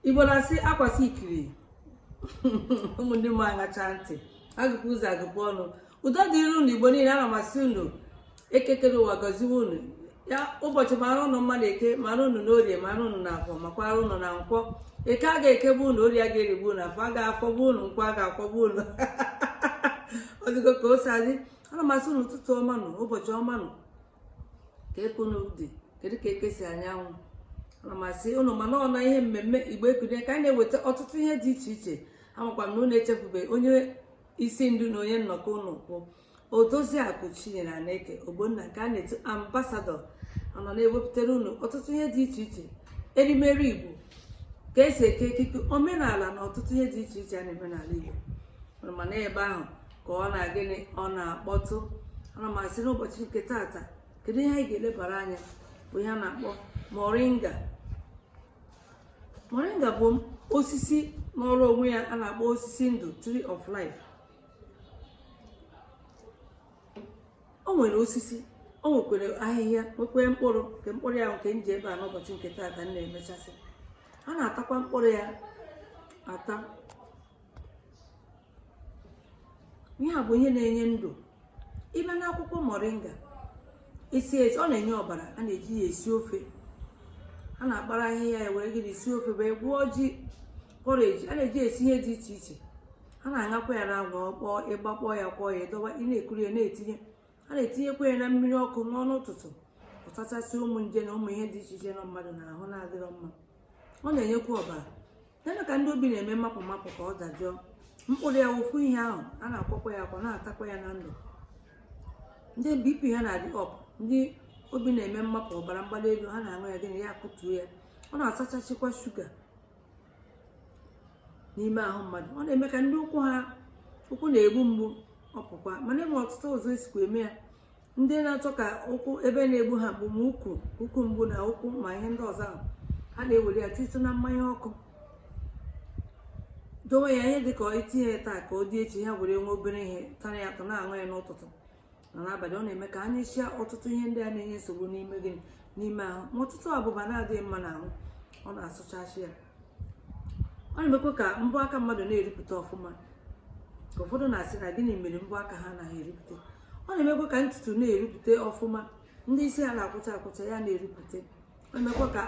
igbo na-asị akwasị ikiri ụmụ ndị mma aṅacha ntị agụpụ ụzọ agụpụ ọnụ udo dịrị unu igbo niile ana m asị unu eke kere ụwa gọziwe unu ya ụbọchị mara unu mma n'eke mara unu n'orie mara unu n'afọ makwara unu na nkwọ eke a ga-ekegbu unu orie a ga-erigbu unu afọ a ga-afọgbu unu nkwọ a ga-akwọgbu unu ọ dịgo ka o si adị ana m asị unu ụtụtụ ọma nụ ụbọchị ọma nụ kee ka unu dị kedu ka eke si anyanwụ ana m asị unu mana ọ n'ihe mmemme igbo ekunie ka a na-eweta ọtụtụ ihe dị iche iche amakwa m na unu echefube onye isi ndu na onye nnọkọ unu kwụ odoziakụ chinyere aneke ogbonna ka a na-etu ambassador anyị na-ewepụtara unu ọtụtụ ihe dị iche iche erimeri igbo ka e si eke ekike omenala na ọtụtụ ihe dị iche iche a na-eme n'ala igbo mana ebe ahụ ka ọ na gịnị ọ na-akpọtụ ana m asị n'ụbọchị nke taata kedu ihe anyị ga-elebara anya bụ ihe a na-akpọ moringa moringa bụ osisi nọrọ onwe ya a na-akpọ osisi ndụ tree of life o nwere osisi o nwekwere ahịhịa nwekwee mkpụrụ nke mkpụrụ ya nke m ji ebe a n'ụbọchị nke taata m na-emechasị a na-atakwa mkpụrụ ya ata ihe a bụ ihe na-enye ndụ ị bịa n'akwụkwọ moringa esi esi ọ na-enye ọbara a na-eji ya esi ofe a na-akpara ahịhịa ya were gịnị esi ofe wee gwọọ ji porridge a na-eji esi ihe dị iche iche a na-aṅakwa ya n'anwụ ọ kpọọ ị gbakpọọ ya kwọọ ya dọwa ị na-ekuru ya na-etinye a na-etinyekwa ya na mmiri ọkụ ṅụọ n'ụtụtụ ọ tachasị ụmụ nje na ụmụ ihe dị iche iche nọ mmadụ n'ahụ na-adịrọ mma ọ na-enyekwa ọbara na-eme ka ndị obi na-eme mmapụ mmapụ ka ọ dajụọ mkpụrụ ya ofu ihe ahụ a na-akwọkwa ya akwọ na-atakwa ya na ndụ ndị bp ha na-adị up ndị obi na-eme mmapụ ọbara mgbali elu ha na-aṅụ ya gịnị ya akụtuo ya ọ na-asachachikwa sugar n'ime ahụ mmadụ ọ na-eme ka ndị ụkwụ ha ụkwụ na-egbu mgbu ọ pụkwa mana e nwe ọtụtụ ụzọ e sikwa eme ya ndị na-achọ ka ụkwụ ebe na-egbu ha bụ ma ụkwụ ụkwụ mgbu na ụkwụ ma ihe ndị ọzọ ahụ ha na-ewere ya titụ na mmanya ọkụ dowe ya ihe dịka i tinye ya taa ka ọ dị echi ha were nwe obere ihe tara ya atọ na-aṅụ ya n'ụtụtụ na n'abalị ọ na-eme ka a nyụchaa ọtụtụ ihe ndị a na-enye nsogbu n'ime gị n'ime ahụ ma ọtụtụ abụba na-adịghị mma n'ahụ ọ na-asachachi ya ọ na-emekwa ka mbọ aka mmadụ na-eripụta ọfụma ka ụfọdụ na-asị na gịnị mere mbọ aka ha anaghị eripụta ọ na-emekwa ka ntutu na-erupụta ọfụma ndị isi ha na-akwọcha akwọcha ya na-erupụta ọ na-emekwa ka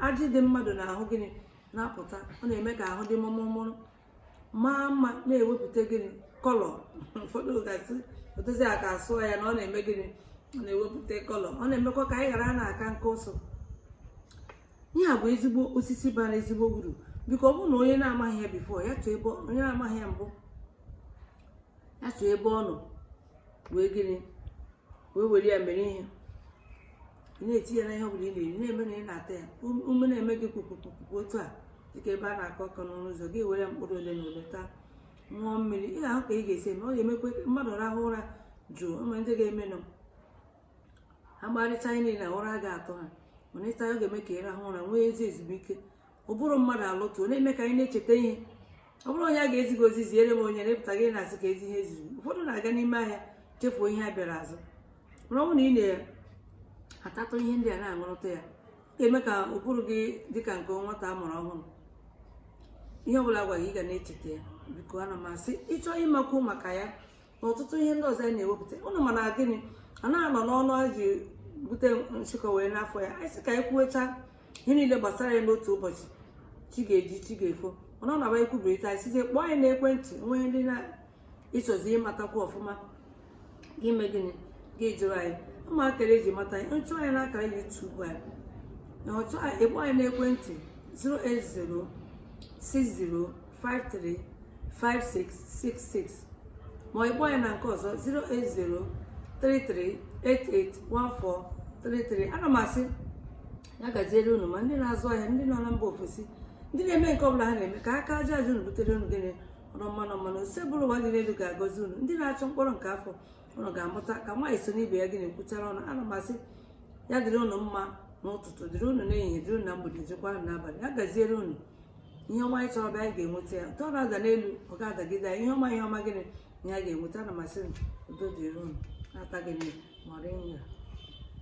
ajị dị mmadụ n'ahụ gịnị na-apụta ọ na-eme ka ahụ dị mụrụmụrụ maa mma na-ewepụta gịnị colour ụfọdụ ga-asị odozi aka asụọ ya na ọ na-eme gịnị ọ na-ewepụta colour ọ na-emekwa ka anyị ghara na-aka nka ọsọ ihe a bụ ezigbo osisi bara ezigbo uru biko ọ bụrụ na onye na-amaghị ya before ya chọọ ebe onye na-amaghị ya mbụ ya chọọ ebe ọ nọ wee gịnị wee were ya mere ihe ị na-eti ya n'ihe ọ bụla ị na-eri na-eme na ị na-ata ya Um- ume na-eme gị kpukpukpukpu otu a dịka ebe a na-akụ ọkpọ n'ọnụ ụzọ gị were mkpụrụ ole na ole taa ṅụọ mmiri ị ga-ahụ ka ị ga-esi eme ọ ga-emekwa ka mmadụ rahụ ụra jụụ ama ndị ga-emenụ ha gbarịcha ihe niile na ụra ga-atụ ha mana ị taa ya ọ ga-eme ka ị rahụ ụra nwee ezi ezumike ụbụrụ mmadụ alụtụ ọ na-eme ka anyị na-echeta ihe ọ bụrụ onye a ga-ezi gị ozi ziere m onye na-apụta gị na-asị keezi ihe e ziri ụfọdụ na-aga n'ime ahịa chefuo ihe ha bịara azụ mana ọ bụrụ na ị na-atatụ ihe ndị a na-aṅụrụta ya ga-eme ka ụbụrụ gị dị ka nke nwata a mụrụ ọhụrụ ihe ọbụla a gwa gị ị ga na-echeta ya biko ana m asị ị chọọ ịmakwu maka ya na ọtụtụ ihe ndị ọzọ anyị na-ewepụta ụnụ ma na gịnị a na-anọ n'ọnụ a ji bute nshịkọ wee n'afọ ya anyị sị ka anyị kwuwecha ihe niile gbasara ya n'otu ụbọchị chi ga-eji chi ga-efo mana ọ n'ebe a e kwubiri taa anyị sịzie kpọọ anyị n'ekwentị o nwe ndị na ịchọzi ịmatakwu ọfụma gị emee gịnị gị jụrụ anyị ụmụ akara e ji mata anyị chọọ anyị n'akara YouTube anyị na ị chọọ anyị ị kpọọ anyị n'ekwentị 08060 535666 ma ọ ị kpọọ ya na nke ọzọ 08033881433 ana m asị ya gaziere unu ma ndị na-azụ ahịa ndị nọ na mba ofesi ndị na-eme nke ọbụla ha na-eme ka aka aja aja unu butere unu gịnị ọnụ mmanụ mmanụ Osebụrụwa dị n'elu ga-agọzi unu ndị na-achọ mkpụrụ nke afọ unu ga-amụta ka nwaanyị so n'ibe ya gịnị kwuchara ọnụ ana m asị ya dịrị unu mma n'ụtụtụ dịrị unu n'ehihie dịrị unu na mgbede dịrịkwa unu n'abalị ya gaziere unu ihe ọma anyị chọrọ bịa anyị ga-enweta ya nke ọ na-ada n'elu ọ ga-adagide anyị ihe ọma ihe ọma gịnị ihe a ga-enweta ana m asị udo dịrị unu na-ata gịnị moringa